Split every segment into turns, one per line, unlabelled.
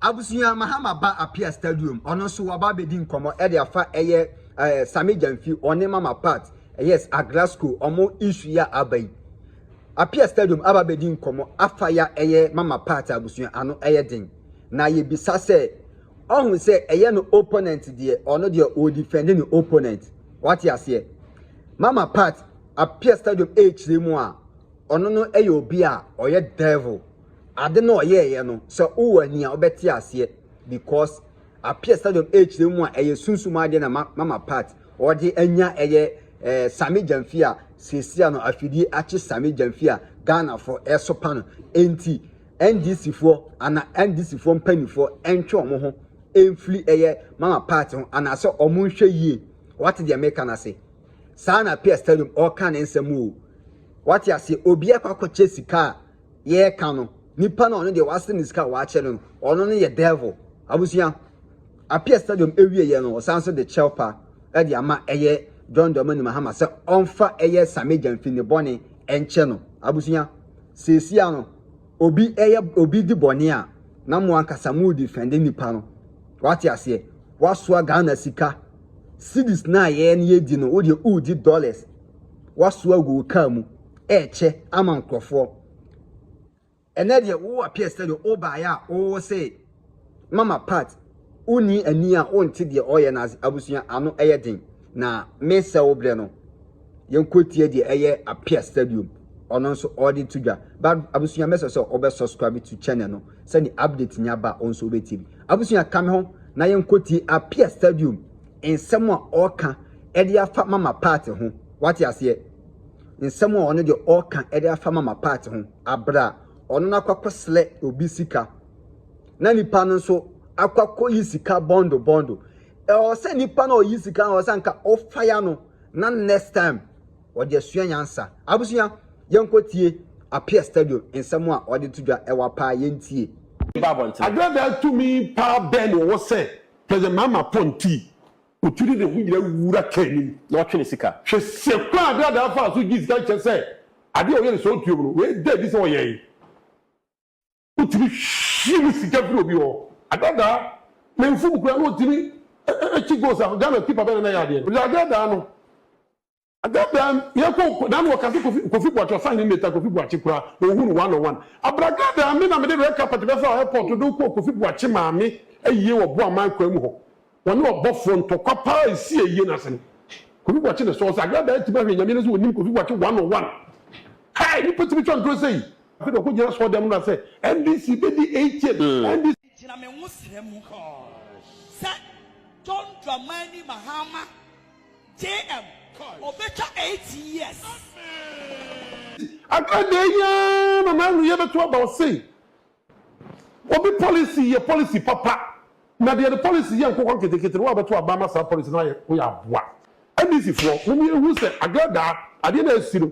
Abusua Mahama ba Appiah Stadium ɔno nso waba abɛdi nkɔmmɔ de afa ɛyɛ ɛɛ Sammy Gyamfi ɔne Mama Pat yes Agrasco ɔmo issue yi a aba yi. Appiah Stadium aba abɛdi nkɔmmɔ afa ya ɛyɛ Mama Pat abusua ano ɛyɛ den na yɛbisa sɛ ɔho sɛ ɛyɛ no opponent deɛ ɔno deɛ ɔ defend ne opponent wate aseɛ Mama Pat Appiah Stadium ɛɛkyerɛ mu a ɔno no ɛyɛ obi a ɔyɛ devil Ade no a ɔyɛeɛ no sɛ wowɔ ani a wobɛte aseɛ because appear sɛ dɔm ɛrekyerɛ mu a ɛyɛ sunsum adeɛ na ma mama part ɔde anya ɛyɛ eh, Same Gyamfi a seesia no afidie akye Same Gyamfi a Ghanafoɔ ɛresopa no enti NDC foɔ ana NDC foɔ mpanimfoɔ ɛntwe wɔn ho ɛmfiri ɛyɛ mama part ho anaasɛ wɔn nhwɛ yie wate deɛ meka no ase saa na appear stadium ɔreka ne nsɛm o wate aseɛ obi akɔ akɔkyɛ sika a yɛreka no, nipa no a ɔno deɛ wasere ne sika a wakyɛ no no, ɔno no yɛ devil. Abusua, Appiah Stadium ɛwieɛ no, ɔsan nso de kyɛwpa ɛde ama ɛyɛ John Dramani Mahama sɛ ɔmfa ɛyɛ Sammy Gyamfi ne bɔne ɛnkyɛ no. Abusua, seesia no, obi ɛyɛ, obi di bɔne a, na mo ankasa mo redefɛnde nipa no. Wate aseɛ? Wasoa Ghana sika, cedis no a yɛn yɛdi no, wo deɛ woredi dollars. woasoa agu wo car mu ɛrekyɛ ama nkorɔfoɔ. Ɛnɛ deɛ wo appear sɛ deɛ wobaeɛ a wo se mama part wonni ani a wonte deɛ ɔreyɛ no ase. Abusua ano yɛ den na mesɛ wo berɛ no yɛnkɔtie deɛ ɛyɛ appear stadium ɔno nso ɔde to dwa. But abusua mɛsɛ sɛ wobɛ subscribe to channel no sɛdeɛ update nya ba wo nso wobɛtie bi. Abusua ka me ho na yɛnkɔtie appear stadium nsɛm a ɔreka de afa mama part ho wate aseɛ nsɛm a ɔno deɛ ɔka de afa mama part ho abra ɔno no akɔkɔ slɛ obi sika na nipa no nso akɔkɔ yi sika bɔndo bɔndo ɛwɔ sɛ nipa no ɔyi sika no ɔsɛ nka ɔfaya no na next time ɔde asua nyansa abusua yɛnkɔ tie apia stadium nsɛm a ɔde to dwa ɛwɔ paa yɛntie Adeɛdaa
tumi paa bɛn na ɔwɔ sɛ President Mahama Ponti Otu de ne ho nyinaa wura car no mu na ɔtwe ne sika. Hwɛ
sɛ kwan a
Dada faa so gyee sika nkyɛ sɛ ade a ɔyɛ no saa otua mu no, wei da adi sɛ ɔyɛe. Wotumi him sika firi obi hɔ a, Dada ne mfom koraa na otumi kyi goals a Ghana keeper bɛn na na ɛyɛ adeɛ no. Dada no. Da bi a yɛkɔ nko na na wɔkasa Kofi Kofi Boakye ɔsan nye Meta Kofi Boakye koraa na wohu no one on one. Abragga da me na mede red carpet bɛfa wɔ airport de wo kɔɔ Kofi Boakye maame ayie wɔ Boaman kwan mu hɔ. Wɔne ɔbɔfoɔ ntɔkwa paa ɛsii ayie no ase no. Kofi Boakye na ɛsɔɔ sɛ Agra da atumi ahwɛ Nyame no sɛ ɔnim Kofi Boakye one on one. Kai! Nnipa tumi twa ntorɔ sei! Afei deɛ ɔkɔ gyina asɔre dɛm no na sɛ NDC bɛdi eight years NDC. Gyina me nwosrɛ
mu sɛ John Dramani Mahama. JM, Ɔbɛtwa eight years. Accra
deɛ yi ara na n'ano yɛ bɛto aba ɔse obi policy yɛ policy papa na deɛ ne policy yɛ nkokɔ nketenkete no wabɛto aba ama saa policy no ayɛ ho yɛ aboa. NDC foɔ mom yɛnhu sɛ Accra daa adeɛ no a asi no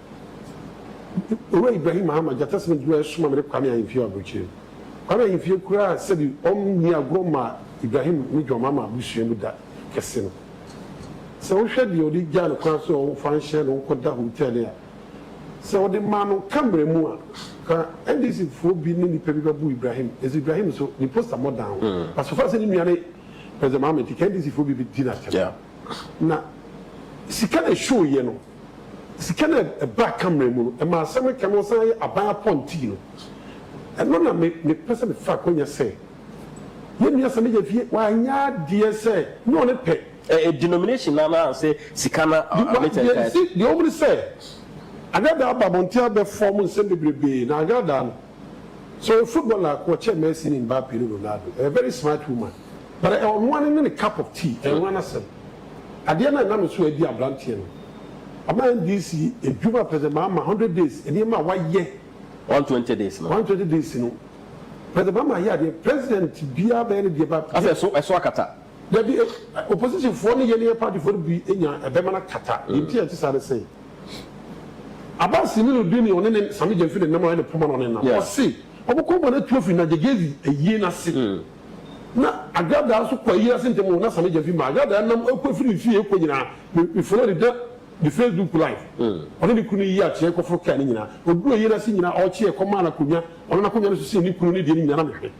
Owura Ibrahim Mahama Gyata Smith Duah soma me ne Kwame Ahimfie wɔ Aburokyire. Kwame Ahimfie kuraa sɛbi ɔm nni agorɔ mmaa Ibrahim ne John Mahama abusua mu da kɛse no. Sɛ wo hwɛ deɛ ɔde gyaa no kwan so ɔn fa nhyɛ no nkɔ da hotel no a, sɛ ɔde maa no camera mu a, ka NDC foɔ bi ne nipa bi bɛ bu Ibrahim, ɛsɛ Ibrahim so ne poster mmɔ dan ho. But so far sɛ ne nua ne President Mahama nti ka NDC foɔ bi bɛ di no atɛm. Na sika na ɛshow yɛ no. Sika no a ɛbaa Kamrɛ mu no, ɛmaa asɛm no kɛnoo san yɛ aban apɔntee no. Ɛno na me, mepɛ sɛ mefa akwannya sɛ yɛn nua Samija fie, wanyɛ adeɛ sɛ ne ɔne pɛ. Ɛyɛ denomination
no anaasɛ sika no a ne kyɛ nkae akyi?
Deɛ wɔn ne sɛ, Agradaa aba abɔnten abɛfɔm nsɛm bebrebee, na Agradaa no. So footballer a wɔkyɛɛ Messi ne Mbappe ne Ronaldo ɛyɛ very smart woman but ɛwɔ mmoa no ne ne cup of tea ɛyɛ nwa no asɛm adeɛ no a ɛnam so adi abranteɛ no ama NDC adwuma a President Mahama hundred days nneɛma a wayɛ one twenty days
no one twenty days no
President Mahama ayɛ adeɛ President
biara
bɛyɛ no deɛ ba asɛ ɛso
ɛso
akata. Dabi, opposition foɔ ne yɛn yɛn party foɔ no bi nya ɛbɛma no akata, deɛ nti a ɛte saa ne sɛ, Abbas Simi no di ne ɔne ne Sammy Gyamfi ne nam a ɔyɛ ne poma na ɔne nam, ɔse ɔmo kɔn bɔ no atu afiri Nagegezi ayie no ase, na Agradaa nso kɔ ayie no ase ntɛm oo, na Sammy Gyamfi maa Agradaa nam ɛkɔ afiri ne fie ɛkɔ nyinaa, me me follow ne da ne Facebook live, ɔne ne kunu yi akyeɛ kɔforo car no nyinaa, ɔduru ayie no ase nyinaa ɔkyeɛ kɔmaa no akonnwa, ɔnam akonnwa no so sii ne kunu ne deɛ no nyinaa na me hwɛ,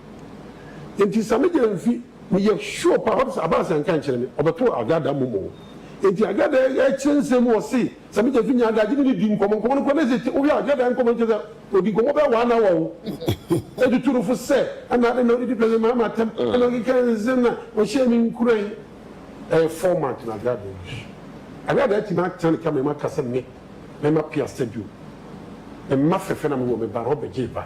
enti Sammy Gyamfi. Meyɛ sure paa ɔde sɛ Abaase anka ankyerɛ me ɔbɛto Agada mmom o. Enti Agada ɛkyerɛ nsɛm mu ɔse sɛ me Gyeffi ne Adagye ne no di nkɔmmɔ, nkɔmmɔ no kɔ na ɛsɛ wohwɛ a Agada nkɔmmɔ no kyerɛ sɛ ɔdi nkɔmmɔ bɛyɛ one hour o. Ɛtutu no fo sɛ ɛna adɛn na ɔdidi President Mahama atɛm ɛna ɔkeka nsɛm na ɔhyɛ me nkuran. Ɛyɛ format na Agada use. Agada atumi atena ne camera mu aka sɛ me mɛma pia stadium. Me mma fɛfɛ na mewɔ me ba na ɔbɛgyee ba.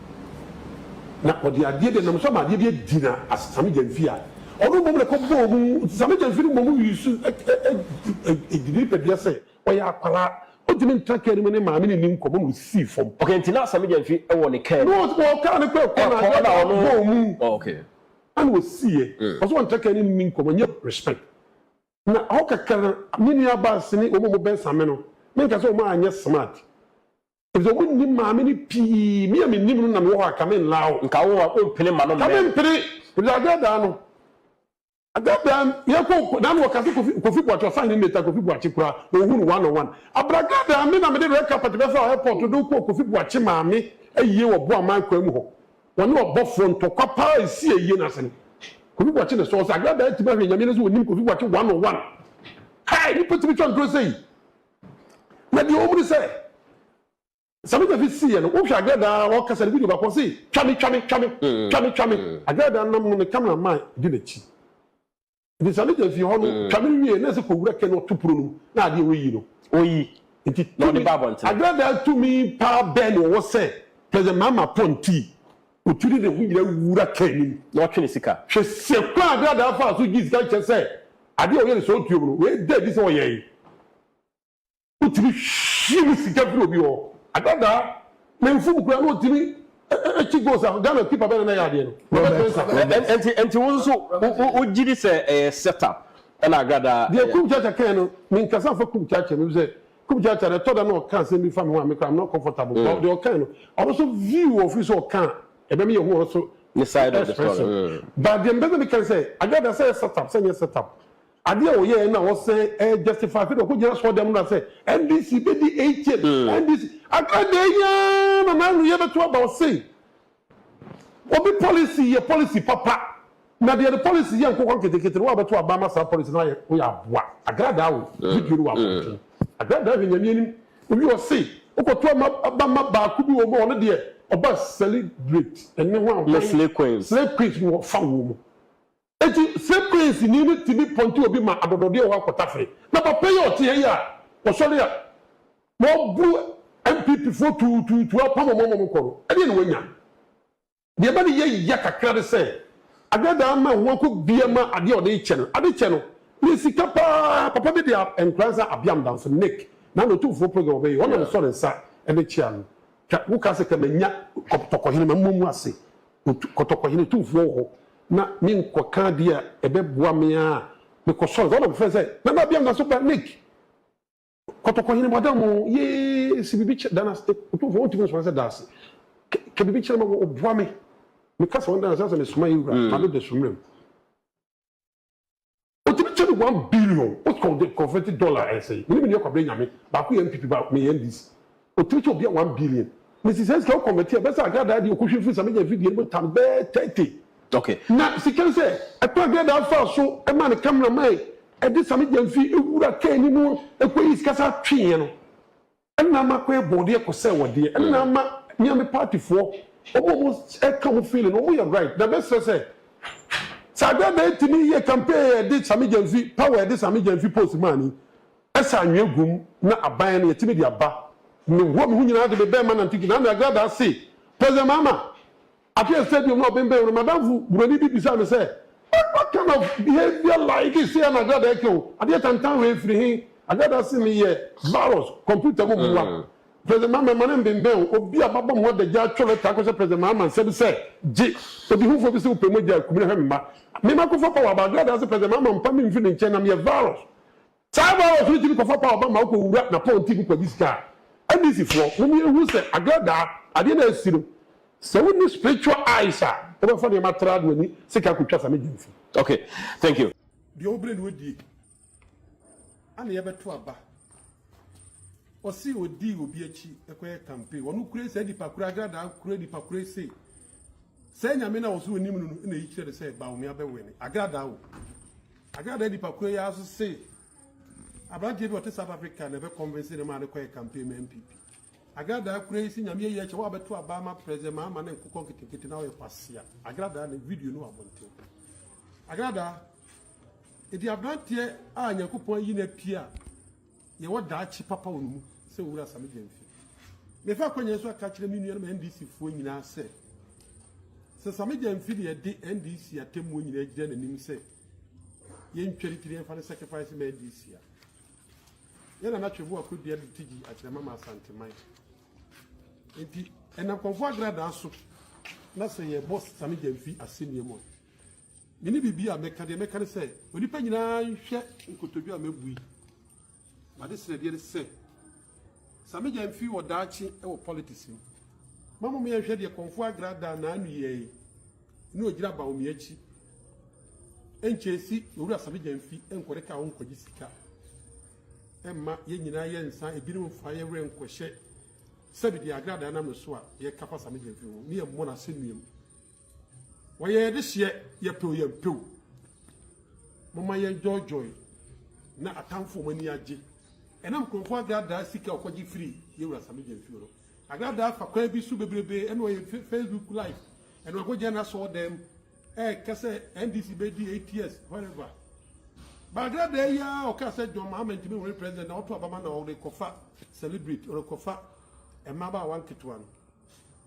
Na ɔde adeɛ bi a ɛnam so ama adeɛ bi adi na asesame gyamfi a ɔno mmom na ɛkɔbɔɔ mu. Asesame gyamfi no mmom wii so gye ne nipadua sɛ ɔyɛ akwadaa. Ɔntumi ntra kaa no mu ne maame no nni nkɔmmɔ na ɔsisii fam. Okay, nti na asesame gyamfi
wɔ ne kaa no mu? No, ɔwɔ kaa no kɔ ɛkɔ
na adeɛ no abɔɔ mu ɛna
ɔsiiɛ.
Ɔsɛ ɔntra kaa no mu nni nkɔmmɔ, nyɛ respect. Na hɔ kakra no, me nua baase ne wɔn a wɔbɛn Same no, menka sɛ wɔn anyɛ smart. Efisɛ ɔmo nnim maame no pii. Me a minnim no na mewɔ hɔ a, ka menlaa wo. Nka wo a wompene mma
no mmɛn. Ka mempene, efisɛ
Adaa daa no. Adaa daa yɛkɔ ɔko daa no wɔ kase Kofi Kofi Boakye Ɔsahene Neta Kofi Boakye koraa na ohuu no one on one. Abradaa daa me na mede red carpet bɛfa wɔ airport de wo kɔɔ Kofi Boakye maame ayie wɔ Boaman kwan mu hɔ. Wɔne ɔbɔfoɔ ntɔkwa paa esii ayie no ase no. Kofi Boakye na ɛsɔɔ sɛ Agradaa atumi ahwɛ Nyame no sɛ ɔnim Kofi Boakye one on one. Kai! Nipa tumi twa ntoro sei? Na deɛ ɔwom ne sɛ, Sammy Gyamfi siiɛ no, wohwɛ Agradaa a ɔkasa no video baako a ɔse twa me, twa me, twa me, twa me, twa me. Agradaa nam no ne camera man di n'akyi. Nti Sammy Gyamfi hɔ no twa me wie na ɛsɛ kɔ wura kɛn ɔto pono no mu na adeɛ ɔyi no. Ɔyi Nti
na ɔde ba
abɔntene.
Agradaa tumi
paa bɛn na ɔwɔ sɛ President Mahama pɔn tii? Otu de ne ho nyinaa wura car no mu na ɔtwe ne sika. Hwɛ
sɛ kwan a
Daadaa faa so gyee sika nkyɛ sɛ ade a ɔyɛ no sɛ otua mu no, wei da adi sɛ ɔyɛe. Wotumi him sika firi obi hɔ. Adaadaa, na mfuw mu koraa na otumi kyi goals a Ghana keeper bɛn na na ɛyɛ adeɛ no, Robert Mensah. Enti enti
wo nso wo wogye di sɛ ɛyɛ set up ɛna Agradaa yɛ? Deɛ Kum Kyaakya kae no,
menkasa mfa Kum Kyaakya mu efisɛ Kup Gyatɛ no ɛtɔ da na ɔka asɛm bi fa me ho a me koraa I'm not comfortable but deɛ ɔkae no ɔno nso view wɔ ɔfiri sɛ ɔka a ɛbɛma yɛhu ɔno nso Ne side of the story expression
mm. but deɛ mpɛ sɛ meka
ne sɛ Agyada sɛ ɛyɛ set up sɛ ɛnyɛ set up adeɛ a ɔyɛɛ na ɔsɛ ɛ justify sɛdeɛ ɔkɔ gyina asɔɔdan mu na sɛ NDC bɛdi eight years NDC Agyada yi ara na n'anoyɛ bɛto aba ɔsei Obi policy yɛ policy papa na deɛ ne policy yɛ nkokɔ nketenkete no woabɛto aba ama saa policy no ayɛ woyɛ aboa agradaa o video no wɔ abɔnten agradaa hwɛ nyame anim obi ɔse wokɔto ama aba ma baako bi wɔ mu a ɔno deɛ ɔba celebrate ɛne ho a ɔkwan slay
queens no ɔfa wɔ
mu Enti, sɛ kɔɛnsini no tumi pɔnte obi ma adɔdɔdeɛ wɔ hɔ a kɔtafere. Na papa yi a ɔte ha yi a ɔsɔre a na ɔbu NPP foɔ tuutuutu apam wɔn ama wɔkɔ no, ɛdeɛn na wanya? Deɛ ɛma ne yɛ ya kakra ne sɛ, Agradaa ama ɛho akɔ bia ma adeɛ a ɔde rekyɛ no, ade kyɛ no, na ɛyɛ sika pa ara. Papa bi de nkora nsa abeam da nso. Nick, Nana Otumfoɔ program a ɔbɛyɛ yi, ɔna mesɔ ne nsa de kye ano. Hwɛ, woka sɛ ka manya tɔkɔhene, ma mmɔ mu ase. Kɔtɔkɔhene Tumfoɔ wɔ hɔ na menkɔka adeɛ a ɛbɛboa me ara a, mekɔsɔre. Saa na mefrɛɛ sɛ, Nana Abiam na so ba Nick? Kɔtɔkɔhene Boadan oo, yee, se biribi kyɛ, Dana se, Otumfoɔ wontumi nsoma sɛ Daase, ka biribi kyerɛ me, boa me. Meka sɛ, Ɔno Dana se asɛ mesoma yɛn wura Mado Dasumerem. Otumi kyɛ me one billion wot kɔn de kɔnfɛti dɔla ɛnsɛe me ne me nua kwabena nyame baako yɛ NPP baako me yɛ NDC otumi kyɛ obia one billion me si sɛ sika wo kɔnvɛti a ɛbɛsɛ agradaa deɛ okohwie firi sa me nya video no mu tan bɛɛ thirty okay na
sika no sɛ
ɛkɔ agradaa faa so ɛmaa ne camera man ɛde sa me nya nfi ɛwura kaa ni mu ɛkɔ yi sika saa tweeɛ no Ɛna ama kwan bɔɔdeɛ ɛkɔ sɛ wɔdeɛ ɛna ama Nyame party foɔ ɔmo ɔmo ɛka ɔmo feeling no ɔmo yɛ right na bɛ srɛ sɛ Sɛ adeɛ na ɛtumi yɛ campaign yɛ ɛde Sammy Gyamfi power ɛde Sammy Gyamfi post maa ni ɛsɛ anwea gu mu na aban no yɛtumi de aba me ho me ho nyinaa de me bɛɛma Nantuki na Ame Agradaa se President Mahama Afei a stadium no ɔbembɛn no, m'adamfo Buroni bi bisaa me sɛ, What, what kind of behavior like is here na Agrada reka o? Adeɛ tantan wei firi he? Agrada se meyɛ virus, computer mu boa. President Mahama, mma no mbembɛn o. Obi a bɛabɔ me ho adagya atwerɛ lɛta akɔhyɛ President Mahama nsa bi sɛ, Gye odihofoɔ bi se wopɛ mogya a, kum no hwɛ me mma. Me makɔfa power aba. Agrada se President Mahama mfa me mfiri ne nkyɛn na meyɛ virus. Saa bere a ɔtwe ti no kɔfa paw ba ma okowura n'apɔnkye mu kɔgye sika a, NDC foɔ, mom yɛnhu sɛ Agra daa adeɛ no a asi no, sɛ wonni spiritual eyes a, wobɛfa nneɛma tra de w'ani sika akotwa sa ne gyimfi. Ok thank
you. Deɛ ɔbrɛ no ɔdie
ana yɛbɛto aba ɔse ɔdi obi akyi kɔyɛ campaign ɔno kura saa nipa kura agra daa kura nipa kura se saa nyame no a ɔse ɔnim no no na ɛyi kyerɛ no sɛ Bawumia bɛwene agra daa o. Agradaa nnipakuo yi ara nso se aberanteɛ bi a ɔte South Africa na ɛbɛkɔnvense no maa no kɔyɛ kampen ma NPP. Agradaa kura yi se Nyame ayi akyɛ wo a wobɛto aba ama President Mahama ne nkokɔ nketenkete na woyɛ kwasea. Agradaa ne video no wɔ abɔnten. Agradaa, enti aberanteɛ a Nyankopɔn ayi no apue a, Yɛwɔ daakye papa wɔ ne mu sɛ Owura Asame Gyamfi. Mefa akwanya yi so aka akyerɛ me nuanom NDC foɔ nyinaa sɛ, sɛ Same Gyamfi de ɛde NDC atemmuo nyinaa gyina n'anim sɛ yɛntware ti na yɛmfa no sacrifice mma NDC a, yɛn Nana Tweboa Kodua de ti gyi akyerɛma ma Asanteman. Enti ɛnam Kɔmfoɔ Agradaa so na sɛ yɛbɔ Same Gyamfi asɛnnua mu a, Me ne biribi a mɛka, deɛ mɛka ne sɛ, onipa nyinaa nhwɛ nkotodwe a mabu yi. M'ade srɛdeɛ ne sɛ, sa me gya mfiri wɔ daakye wɔ politics mu. Ma mmom yɛnhwɛ deɛ Kɔmfoɔ Agra daa n'ano yɛɛ yi ne ɔgyina Bawumia akyi. Ɛnkyɛe si Owura Sa me gya mfi nkɔde kaa ho nkɔgye sika. Ɛmma yɛn nyinaa yɛ nsa, ebinom mfa yɛn werɛ nkɔhyɛ sɛbi deɛ Agra daa nam ne so a yɛka fa Sa me gya mfi ho, ne yɛmmɔ no asɛnnuam. Wɔyɛ dehyeɛ yɛpew yɛmpew. Momma yɛndwoodwooe na atamfo wɔn ani agye. Ɛnam nkurɔfoɔ agradaa sika a wɔkɔgye firii yɛn wura Sammy Gyamfi hɔ no. Agradaa fa kwan bi so bebrebe ɛna ɔyɛ Facebook live ɛna ɔkɔ gyina n'asɔɔdan mu ɛɛka sɛ NDC bɛdi eight years wherever. Ba agradaa yi ara ɔkaa sɛ John Mahama ntumi nwene president na ɔto aba ma na ɔrekɔfa celebrate ɔrekɔfa mmabaawa nketewa no.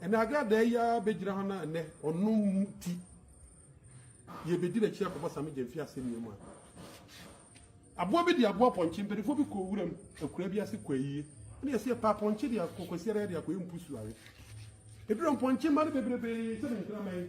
Ɛnna Agradaa yi ara bɛgyina ha na ɛnnɛ ɔno nti yɛbɛdi n'akyi akɔbɔ same gya mfi asɛnnua mu a. Aboa bi de aboa pɔnkye, mpanimfoɔ bi kɔɔ wuram akuraa bi ase kɔ ayie, ɛnna yɛsi yɛpɛ apɔnkye de akɔ Kwasi Araya de akɔyɛ mpusu awe. Ɛduru mpɔnkye mma no bebrebe sɛ ne nkraman.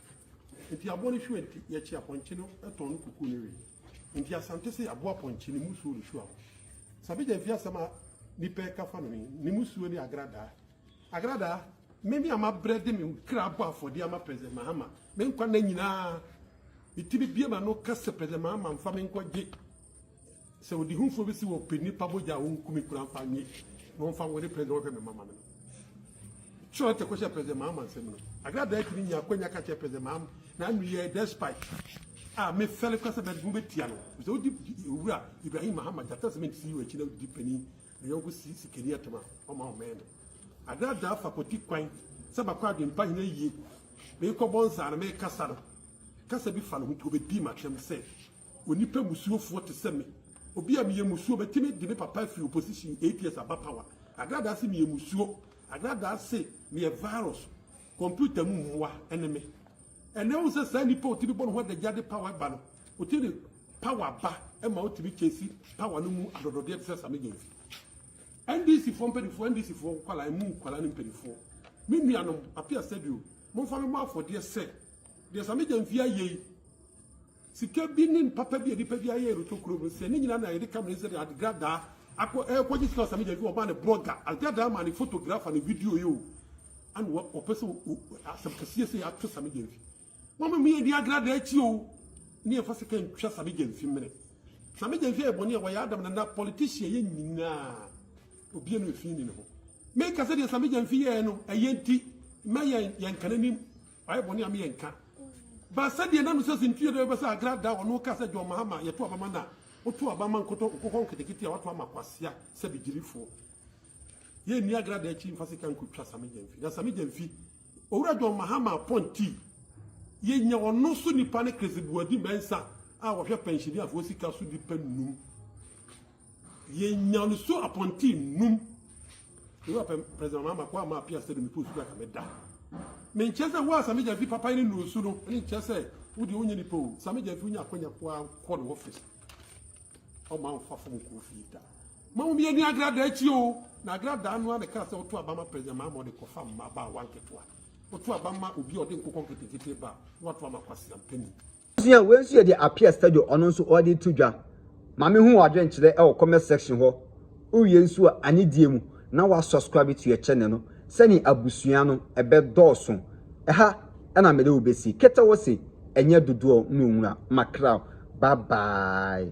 Enti aboa no hwira nti, yɛkye apɔnkye no tɔn no kuku no we. Enti Asante se aboa pɔnkye ne musuo ne hwira ho. Sabigya mfi asɛm a nnipa reka fa no ho yi, ne musuo ne agradaa. Agradaa, me me a mabrɛ de me kra abɔ afɔdeɛ ama President Mahama, me nkwa nna nyinaa, metumi bue m'ano ka sɛ President Mahama mfa me nkɔgye Sɛ ɔdehufo bi se wɔpɛ nnipa mogya a wonku me kura mfa nye na wɔmfa nware President wɔhwɛ me mama me no, kyerɛ ɔte kɔhyɛ President Mahama nsam no. Agra Daakye no nyaa akwanya ka kyerɛɛ President Mahama n'anoyie despite a mefɛle kora sɛ mɛde mobɛtia no efisɛ odi Owura Ibrahim Mahama Gyata Cement CEO akyi na odi panin ne yɔnko si sikani atam a ɔma ɔmɛn no. Agra Daa fa kɔti kwan sɛ makɔ Adwempa hene ayie meekɔbɔ nsa no meekasa no kasa bi fa ne ho nti ɔbɛdii m'atɛm sɛ Onipa musuofoɔ te sɛ me. Obi a meyɛ musuo bɛtumi de me papa afiri opposition eight years aba power. Agradaa se meyɛ musuo. Agradaa se meyɛ virus. Computer mu mmoa ne me. Ɛnɛ wohu sɛ saa nipa a otumi bɔ ne ho adagya de power ba no, otumi de power ba ma otumi chase power no mu adɔdɔdeɛ te sɛ Sammy Gyamfi. NDC foɔ mpanimfoɔ, NDC foɔ nkwadaa, emu nkwadaa ne mpanimfoɔ, me nuanom, Appiah Saidu, momfa me mmɔ afɔdeɛ sɛ deɛ Sammy Gyamfi ayɛ yi, Sika bi ne mpapa bi a nnipa bi ayɛ reto kurom no, sɛ ne nyinaa na yɛde kame ne sɛdeɛ adegradaa akɔ ɛrekɔgye sika wɔ saa media no, wɔmaa no blogger, adegradaa maa no photographer ne video yi o, ɛna wɔ wɔpɛ sɛ o asɛm kɛseɛ sɛ yɛato saa media mfi. Momma me yɛndi agradaa akyi o, ne yɛmfa sika ntwa saa media mfi mmene. Saa media mfi ayɛ bɔne a wɔyɛ Adam Nana politician yɛ nyinaa, obiara no mfi nni ne ho. Meka sɛdeɛ saa media mfi yɛɛ no ɛyɛ nti, mma yɛn yɛnka n'anim Wayɛ bɔne a me yɛ nka. Ba sɛdeɛ na Nusa Sentui yɛ dɛ bɛbɛ sɛ Agra da ɔno ka sɛ John Mahama yɛto aba ma no a, woto aba ma nkotɔ nkokɔ nketekete a wato ama kwasea sɛ bigyirifoɔ. Yɛ nni Agra da akyi mfa sika nko twa Same Gyamfi. Na Same Gyamfi, Owura John Mahama apɔntii, yɛ nya ɔno so nipa ne Chris Boadi Mensah a wɔhwɛ pɛnhyeniafoɔ sika so nipa nnum. Yɛnya no so apɔnten nnum. Yehowa pɛ President Mahama kɔ ama apia sɛ no mepɛ osu kaka meda. Menkyɛ sɛ wo a Sami Gyamfi papa ne nnuro su no ne nkyɛ sɛ wo deɛ wonyɛ nipa o. Sami Gyamfi wonya akwanya kɔ a kɔ no office. Ɔma nfa fam nkɔ ofie da. Ma wo mieni agrada akyi o. Na agrada no a ne kaa sɛ woto aba ma President Mahama ɔde kɔfa mma ba a wanketewa. Woto aba ma obi a ɔde nkokɔ nketenkete ba a woato ama kwasea mpanin. Abusua, wei nso yɛ
deɛ Appiah Stadio ɔno nso ɔde reto dwa. Maame hu w'adwenkyerɛ wɔ comment section hɔ. Wowie nso a, anidie mu na wa subscribe to yɛ channel no sɛdeɛ abusua no ɛbɛdɔɔso. Ɛha na mede wo bɛsi. Kete wo se, ɛnyɛ dodoɔ na ɔnwura. Makraw. Bye bye.